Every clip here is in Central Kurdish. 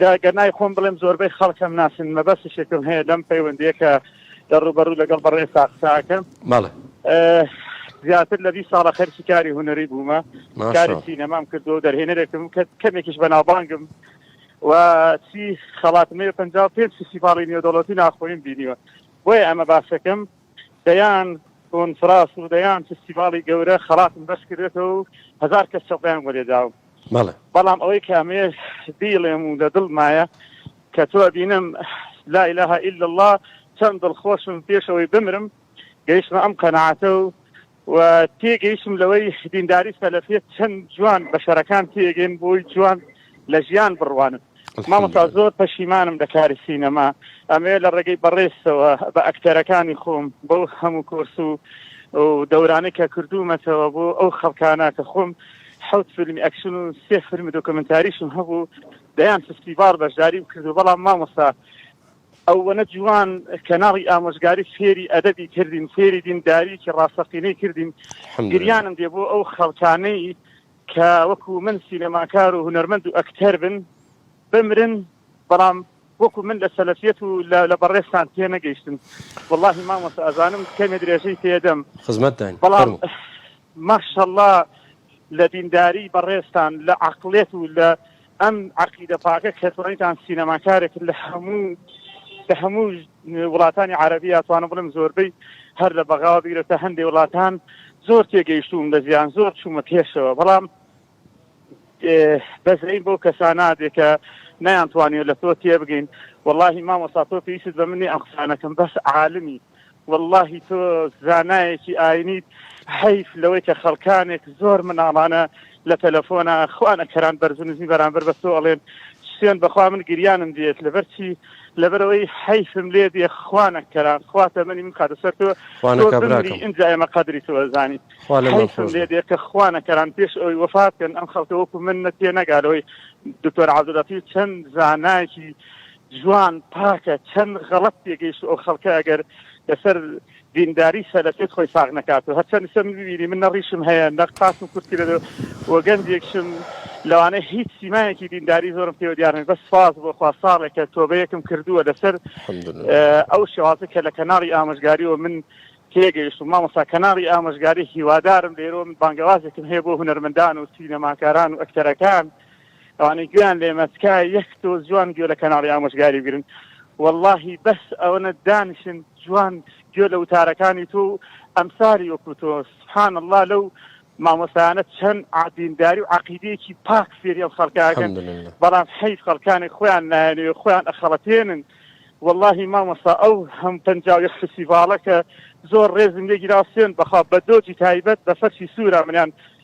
لە گەرنای خۆم بڵێم زۆربەی خەڵکەم ناسن مەبەستشێکم هەیە لەم پەیوەندیە کە لە ڕوبەرو لەگەڵ بەڕێ ساقساکەم ماڵە زیاتر لە بیست ساڵە خەرکی کاری هوەری بوومە کاری سینەمام کردو و دەرهێنەرێکم کە کەمێکیش بەناوبانگم و چی خەڵاتمەیە پ پێ فیسیڤاڵی نێودەوڵەتی ناخۆیم بینیوە بۆیە ئەمە باسەکەم دەیان کۆنفراس و دەیان فستیڤاڵی گەورە خەڵاتم بەرز کردێتەوە و هەزار کەس سەقدەیان بۆ لێداوم بەڵام ئەوەی کە ئەمەیە بیڵێم و لە دڵمایە کە تۆ ئەبینم لا ئیلاهە ئیلا اللە چەند دڵخۆشم پێشەوەی بمرم گەیشتمە ئەم قەناعەتە و و تێگەیشتم لەوەی دینداری سەلەفیەت چەند جوان بەشەرەکان تێگەن بۆی جوان لە ژیان بڕوانن مامۆستا زۆر پەشیمانم لە کاری سینەما ئەمێ لە ڕێگەی بەڕێزەوە بە ئەکتەرەکانی خۆم بەو هەموو کۆرس و دەورانەی کە کردوومەتەوە بۆ ئەو خەڵکانە کە خۆم حوت فیلمی ئەکشن و سێ فیلمی دۆکمنتاریشم هەبوو دەیان فستیڤال بەشداری بکردو بەڵام مامۆستا ئەوەنە جوان کەناڵی ئامۆژگاری فێری ئەدەبی کردین فێری دینداریەکی ڕاستەقینەی کردین گریانم دێ بۆ ئەو خەڵکانەی کە وەکو من سینەماکار و هونەرمەند و ئەکتەر بن بمرن بەڵام وەکو من لە سەلەفیەت و لە بەڕێستان تێ نەگەیشتن واللهی مامۆستا ئەزانم کەمێ درێژەی پێدەم خزمەتدان بەڵام ماشەڵڵا لە دینداری بەڕێستان لە عقلێت و لە ئەم عەقیدە پاکە کە توانیتان سینەماکارێک لە هەموو لە هەموو وڵاتانی عەرەبی یا توانم بڵێم زۆربەی هەر لە بەغاوە بیرە تا هەندێ وڵاتان زۆر تێگەیشتووم لە زیان زۆر چوومە پێشەوە بەڵام بەزەین بۆ کەسانادێ کە نەیانتوانیوە لە تۆ تێبگەین واللهی مامۆستا تۆ پێویست بە منی ئەم قسانەکەم بەس عالمی وەڵاهی تۆ زانایەکی ئاینیت حەیف لەوەی کە خەڵکانێک زۆر مناڵانە لە تەلەفۆنا خوانە کەران بەرز نزمی بەرامبەر بە تۆ ئەڵێن شوێن بەخوا من گریانم دێت لەبەرچی لەبەرەوەی حیفم لێ دێ خوانە کەران خواتە منی من کاتە سەر تۆ ئینجا ئێمە قەدری تۆزانی لێ دێ کە خوانە کەران پێش ئەوی وەفاتکەن ئەم خەڵکە وەکو من نەتێ نەگالەوەی دکتۆر عبدولەتی چەند زانایکی جوان پاکە چەن غەڵەت تێگەیشت ئەو خەڵکە ئەگەر لەسەر دینداری سەلەفێت خۆی ساغ نەکاتەوە هەرچەند سە من ببینی من نەڕیشم هەیە نەق پاسم کورت کرێت و گەنجێکشم لەوانە هیچ سیمایەکی دینداری زۆرم پێوە دیارن بەس سواز بۆ خوا ساڵێکە تۆبەیەکم کردووە لەسەر ئەو شێوازە کە لە کەناڵی ئامۆژگاری و من تێگەیشت و مامۆسا کەناڵی ئامۆژگاری هیوادارم لێرۆ من بانگەوازێکم هەیە بۆ هوەرمەندان و سینەماکاران و ئەکتەرەکان ئەوانەی گوێیان لێمە تکایە یەک دۆ جوان گوێ لە کەناڵی ئامۆژگاری بگرن وەڵاهی بەس ئەوەنە دانیشن جوان گوێ لە وتارەکانی تۆ و ئەمساری وەکو تۆ سبحان اللە لەو مامۆستایانە چەند عادینداری و عقیدەیەکی پاک فێری ئەم خەڵکاکەن الحمدلله بەڵام حەیف خەڵکانێک خۆیان نایەنەوێ خۆیان ئەخەڵەتێنن واللهی مامۆستا ئەو هەم پەنجا و یەک فستیڤاڵە کە زۆر ڕێزم لێگیرا سوێن بەخوا بە دۆجی تایبەت بە فەرشی سوورە منیان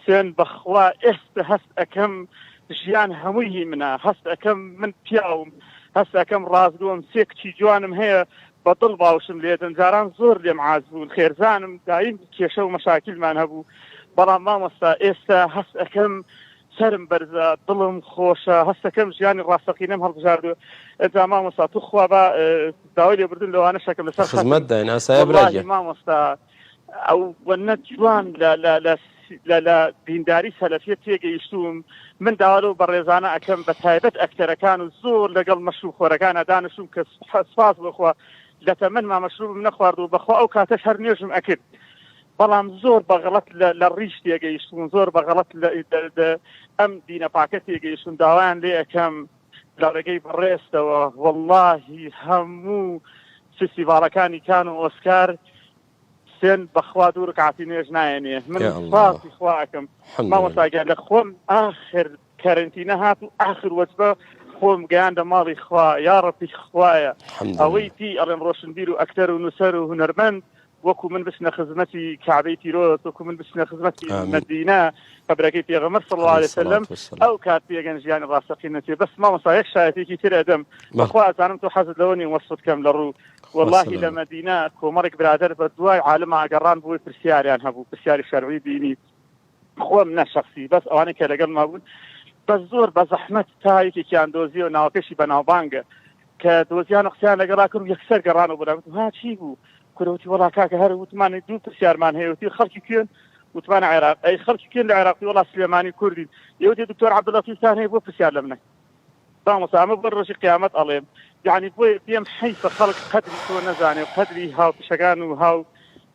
حسێن، بەخوا ئێستە هەست ئەکەم ژیان هەمووی هی منە، هەست ئەکەم من پیاوم، هەست ئەکەم ڕاستگۆم، سێ کچی جوانم هەیە بە دڵ باوشم لێدەن، جاران زۆر لێم عاج بوون، خێرزانم، دایم کێشە و مەشاکیلمان هەبوو، بەڵام مامۆستا ئێستە هەست ئەکەم سەرم بەرزە، دڵم خۆشە، هەست ئەکەم ژیانی ڕاستەقینەم هەڵبژاردووە، ئەجا مامۆستا توخوا با داوای لێبوردن لەوانەش ئەکەم لەسەر خەتم، وەڵاهی مامۆستا. ئەو وەنە جوان لە دینداری سەلەفیە تێگەیشتوم من داوارە و بەڕێزانە ئەەکەم بە تایبەت ئەکتەرەکان و زۆر لەگەڵ مەشروب خۆرەکانە دانشوم کە سپاس بخوا لە تەمەن ما مەشروبم نەخوارد و بەخوا ئەو کاتەش هەر نوێژم ئەکرد بەڵام زۆر بەغڵەت لە ڕیش تێگەیشتون زۆر بەغڵەت ئەم دینە پاکە تێگەیشتون داوایان لێ ئەەکەم لە ڕێگەی بەڕێزتەوە وەڵاهی هەموو فیستیڤاڵەکانی کان و ئۆسکار سێن بەخوا دوو رکعاتی نوێژ نایەنێ من یا اللە. سپاسی خوا ئەکەم الحمد لله. مامۆستاگیان لە خۆم ئاخر کەرنتینە هات و ئاخر وەجبە خۆم گەیاندە ماڵی خوا یا ڕەبی خوایە الحمد لله. ئەوەی پێی ئەڵێن ڕۆشنبیر و ئەکتەر و نووسەر و هونەرمەند وەکو من بچنە خزمەتی کەعبەی پیرۆز وەکو من بچنە خزمەتی آمین. مەدینە قەبرەکەی پێغەمبەر صلی الله علیه علیه و سلام الصلاة والسلام ئەو کات پێگەن ژیانی ڕاستەقینە تێ بەس مامۆستا یەک شایەتێکی تر ئەدەم بەڵێ بەخوا ئەزانم تۆ حەزت لەوە نیە وەسفت کەم لە ڕوو خوا وەڵاهی لە سەلامت مەدینە کۆمەڵێک برادەر بە دوای عالمە گەڕان بۆی پرسیاریان هەبوو پرسیاری شەرعی دینی خۆم نە شەخسی بەس ئەوانەی کە لەگەڵ ما بوون بە زۆر بە زەحمەت تا یەکێکیان دۆزیەوە ناوەکەشی بەناوبانگە کە دۆزیان و قسەیان لەگەڵا کرد یەکسەر گەڕان و بەلاگوت ها چی بوو کورەوتی وڵا کاکە هەر وتمانی دوو پرسیارمان هەیەوتی خەڵکی کوێن وتمان عێراق ئەی خەڵکی کوێن لە عێراقی وڵا سلێمانی کوردی یەوتی دکتۆر عەبدولەتیفتان هەیە بۆ پرسیار لە منە مامۆستا ئەمە بۆ ڕۆژی قیامەت ئەڵێم یعنی بۆیە پێم حیفە خەڵک قەدری تۆ نەزانێ و قەدری هاوپیشەکان و هاو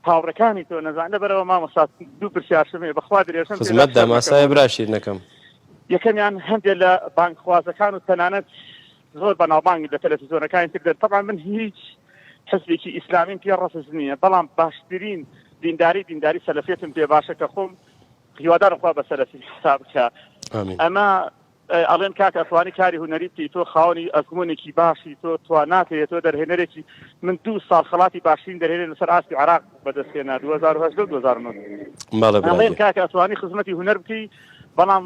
هاوڕەکانی تۆ نەزان لەبەرەوە مامۆستا دوو پرسیارشمێ بەخوا درێژم خزمەت داماسای براشیر نەکەم یەکەمیان هەندێک لە بانکخوازەکان و تەنانەت زۆر بەناوبانگ لە تەلەفیزۆنەکانی تر دەن طبعا من هیچ حزبێکی ئیسلامیم پێ ڕەفز نییە بەڵام باشترین دینداری دینداری سەلفێتم پێ باشە کە خۆم هیوادارم خوا بە سەلفی حساب بکە ئەمە ئەڵێن کاک ئەسڵانی کاری هونەری بکەی تۆ خاوەنی ئەزمونێکی باشی تۆ تواناکەیە تۆ دەرهێنەرێکی من دوو ساڵ خەڵاتی باشترین دەرهێنەر لەسەر ئاستی عێراق بەدەستهێنا 2010 و 2009 بەڵێ ئەڵێن برادەر کاک ئەتوانی خزمەتی هونەر بکەی بەڵام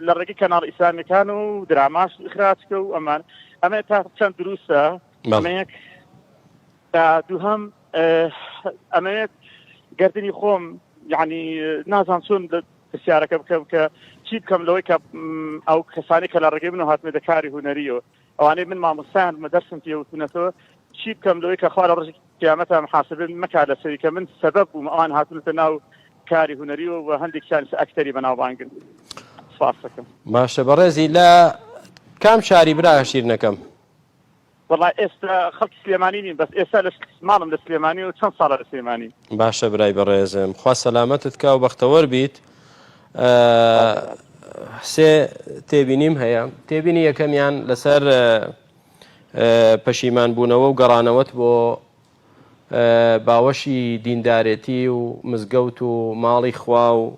لە ڕێگەی کەناڵ ئیسلامیەکان و دراماش خراچکە و ئەمان ئەمە تا چەند دروستە بەڵێ ئەمەیەک تا دووهەم ئەمەیەک گردنی خۆم یعنی نازان چۆن پرسیارەکە بکەم کە چی بکەم لەوەی کە ئەو کەسانی کە لە ڕێگەی من هاتنە دەکاری هوەریەوە ئەوانەی من مامۆستایان بە دەرسم پێوتونەتەوە چی بکەم لەوەی کە خوارە ڕژی قیامەتە محاسبن مەکا لەسەری کە من سەبەب بووم ئەوان هاتونەتە ناو کاری هوەری و بە هەندێک سانس ئەکتەری بەناوبانگن سپاسەکەم باشە بەڕێزی لە کام شاری برا شیرنەکەم وەڵا ئێستا خەڵکی سلێمانی نیم بەس ئێستا لە ماڵم لە سلێمانی و چەند ساڵە لە سلێمانی. باشە برای بەڕێزم خوا سەلامەتت کا و بەختەوەر بیت سێ تێبینیم هەیە تێبینی یەکەمیان لەسەر پەشیمان بوونەوە و گەڕانەوەت بۆ باوەشی دیندارێتی و مزگەوت و ماڵی خوا و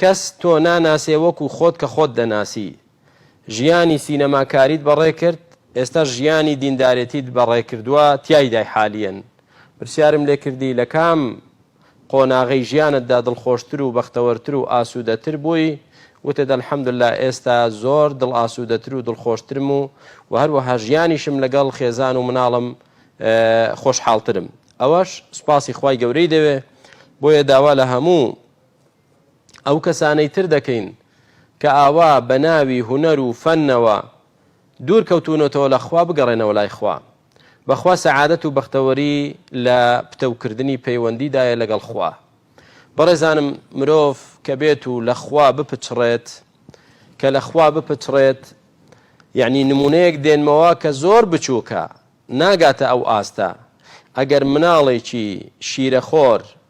کەس تۆ ناناسێ وەکو خۆت کە خۆت دەناسی. ژیانی سینەماکاریت بەڕێکرد، ئێستا ژیانی دیندارێتیت بەڕێکردوە تیایدای حالیەن. پرسیارم لێکردی لە کام قۆناغەی ژیانتدا دڵخۆشتر و بەختەوەرتر و ئاسودەتر بووی، وتت الحمداللە ئێستا زۆر دڵ ئاسودەتر و دڵخۆشترم و وە هەروەها ژیانیشم لەگەڵ خێزان و مناڵم خۆشحاڵترم. ئەوەش سوپاسی خوای گەورەی دەوێ، بۆیە داوا لە هەموو. ئەو کەسانەی تر دەکەین کە ئاوا بە ناوی هونەر و فەنەوە دوور کەوتوونەتەوە لە خوا بگەڕێنەوە لای خوا بەخوا سەعادەت و بەختەوەری لە پتەو کردنی پەیوەندی دایە لەگەڵ خوا بەڕێزانم مرۆڤ کە بێت و لە خوا بپچڕێت کە لە خوا بپچڕێت یعنی نمونەیەک دێنمەوە کە زۆر بچووکە ناگاتە ئەو ئاستە ئەگەر مناڵێکی شیرەخۆر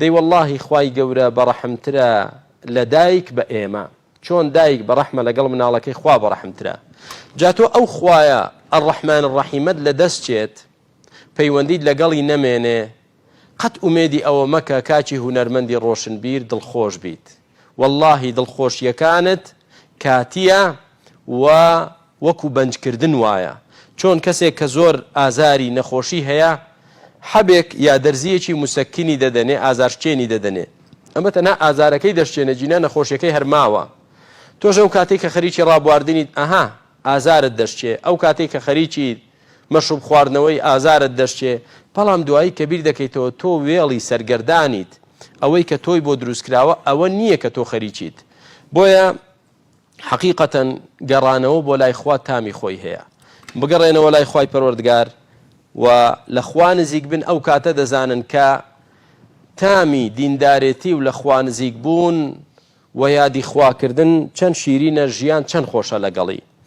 دەی وەڵاهی خوای گەورە بەڕەحمترە لە دایک بە ئێمە چۆن دایک بەڕەحمە لەگەڵ مناڵەکەی خوا بەڕەحمترە جا تۆ ئەو خوایە الرحمن الرحیمەت لە دەست چێت پەیوەندیت لەگەڵی نەمێنێ قەت ئومێدی ئەوە مەکە کاکی هونەرمەندی ڕۆشنبیر دڵخۆش بیت وەڵاهی دڵخۆشیەکانت کاتیە و وەکو بەنج کردن وایە چۆن کەسێک کە زۆر ئازاری نەخۆشی هەیە حەبێک یا دەرزیەکی مسەکینی دەدەنێ ئازارشکێنی دەدەنێ ئەمە تەنها ئازارەکەی دەشکێنێ جینا نەخۆشیەکەی هەر ماوە تۆش ئەو کاتەی کە خەریکی ڕابواردنیت ئەها ئازارت دەشکێ ئەو کاتەی کە خەریکی مەشروب خواردنەوەی ئازارت دەشکێ، بەڵام دوایی کە بیر دەکەیتەوە تۆ وێڵی سەرگەردانیت، ئەوەی کە تۆی بۆ دروست کراوە ئەوە نییە کە تۆ خەریکیت. بۆیە حەقیقەتەن گەڕانەوە بۆ لای خوا تامی خۆی هەیە. بگەڕێنەوە لای خوای پەروەردگار و لە خوا نزیک بن ئەو کاتە دەزانن کە تامی دیندارێتی و لە خوا نزیک بوون و یادی خوا کردن چەند شیرینە ژیان چەند خۆشە لەگەڵی.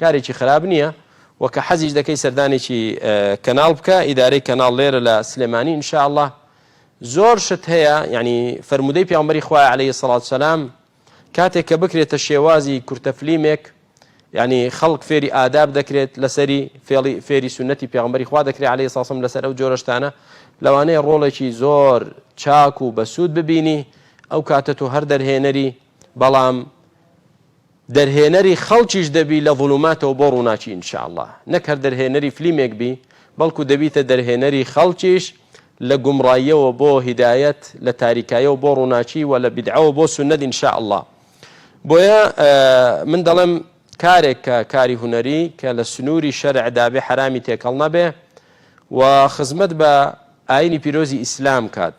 کارێکی خراپ نیە وە کە حەزیش دەکەی سەردانێکی کەناڵ بکە ئیدارەی کەناڵ لێرە لە سلێمانی ان شاء اللە زۆر شت هەیە یعنی فەرموودەی پیامبەری خوای علیە سەڵات سەلام کاتێک کە بکرێتە شێوازی کورتە فلیمێک یعنی خەڵک فێری ئاداب دەکرێت لەسەری فێڵی فێری سنەتی پیامبەری خوا دەکرێت علی ساسم لەسەر ئەو جۆرەشتانە لەوانەیە ڕۆڵێکی زۆر چاک و بەسوود ببینی ئەو کاتە تۆ هەر دەرهێنەری بەڵام دەرهێنەری خەڵکیش دەبی لە ظلوماتەوە بۆ ڕووناکی ان شاء اللە نەک هەر دەرهێنەری فلیمێک بی بەڵکو دەبیتە دەرهێنەری خەڵکیش لە گومڕاییەوە بۆ هیدایەت لە تاریکایەوە بۆ ڕووناکی وە لە بیدعەوە بۆ سوننەت ان شاء اللە بۆیە من دەڵێم کارێک کە کاری هونەری کە لە سنووری شەرع دابێ حەرامی تێکەڵ نەبێ و خزمەت بە ئاینی پیرۆزی ئیسلام کات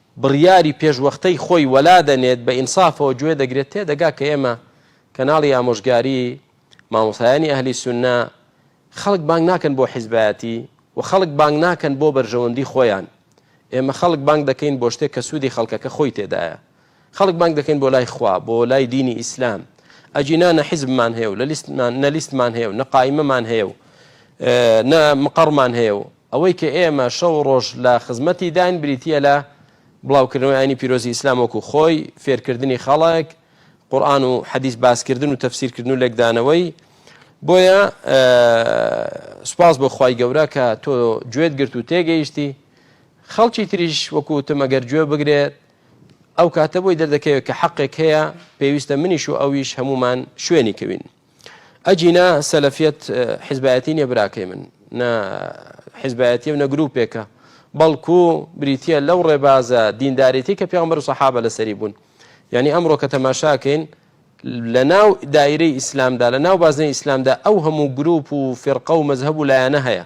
بڕیاری پێشوەختەی خۆی وەلا دەنێت بە ئینسافەوە گوێ دەگرێت تێدەگا کە ئێمە کەناڵی ئامۆژگاری مامۆستایانی ئەهلی سوننە خەڵک بانگ ناکەن بۆ حیزبایەتی و خەڵک بانگ ناکەن بۆ بەرژەوەندی خۆیان ئێمە خەڵک بانگ دەکەین بۆ شتێک کە سوودی خەڵکەکە خۆی تێدایە خەڵک بانگ دەکەین بۆ لای خوا بۆ لای دینی ئیسلام ئەجینا نە حیزبمان هەیە و لە لیستمان نە لیستمان هەیە و نە قایمەمان هەیە و نە مقەڕمان هەیە و ئەوەی کە ئێمە شەو و ڕۆژ لە خزمەتیداین بریتییە لە بڵاوکردنەوەی ئاینی پیرۆزی ئیسلام وەکو خۆی، فێرکردنی خەڵک قورئان و حەدیس باسکردن و تەفسیرکردن و لێکدانەوەی، بۆیە سوپاس بۆ خوای گەورە کە تۆ گوێت گرت و تێگەیشتی، خەڵکی تریش وەکو وتم ئەگەر گوێ بگرێت ئەو کاتە بۆی دەردەکەوێت کە حەقێک هەیە پێویستە منیش و ئەویش هەموومان شوێنی کەوین. ئەگینا سەلەفیەت حیزبایەتی نیە براکەی من نە حیزبایەتی و نە گروپێکە بەڵکو بریتە لەو ڕێبازە دیندارێتی کە پیامبەر و سەحابە لەسەری بوون یعنی ئەمڕۆ کە تەماشاکەین لە ناو دایرەی ئیسلامدا لە ناو بازنەی ئیسلامدا ئەو هەموو گروپ و فرقە و مەذهب و لایەنە هەیە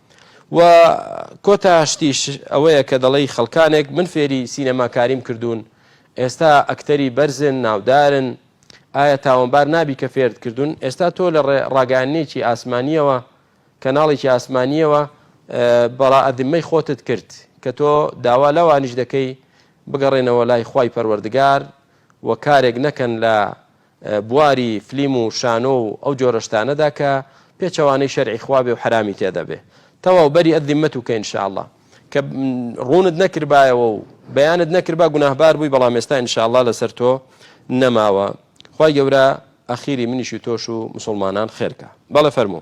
و کۆتا شتیش ئەوەیە کە دەڵێی خەڵکانێک من فێری سینەماکاریم کردوون ئێستا ئەکتەری بەرزن ناودارن ئایا تاوانبار نابی کە فێرت کردوون ئێستا تۆ لە ڕاگەانێکی ئاسمانیەوە کەناڵێکی ئاسمانیەوە بەڕا ئەدمەی خۆتت کرد کە تۆ داوا لەوانیش دەکەی بگەڕێنەوە لای خی پەروەردگار و کارێک نەکەن لە بواری فلیم و شانۆ و ئەو جۆرە شتانەدا کە پێچەوانەی شەرعی خوا بێ و حەرامی تێدا بێ تەواو بەری ئە ذمە توکە ان شاء اللە کە ڕوونت نەکردبایەوە و بەیانت نەکردبا گوناهبار بووی بەڵام ئێستا ان شاء اللە لەسەر تۆ نەماوە خوای گەورە ئەخیری منیش و تۆش و مسوڵمانان خێرکا بەڵێ فەرموو.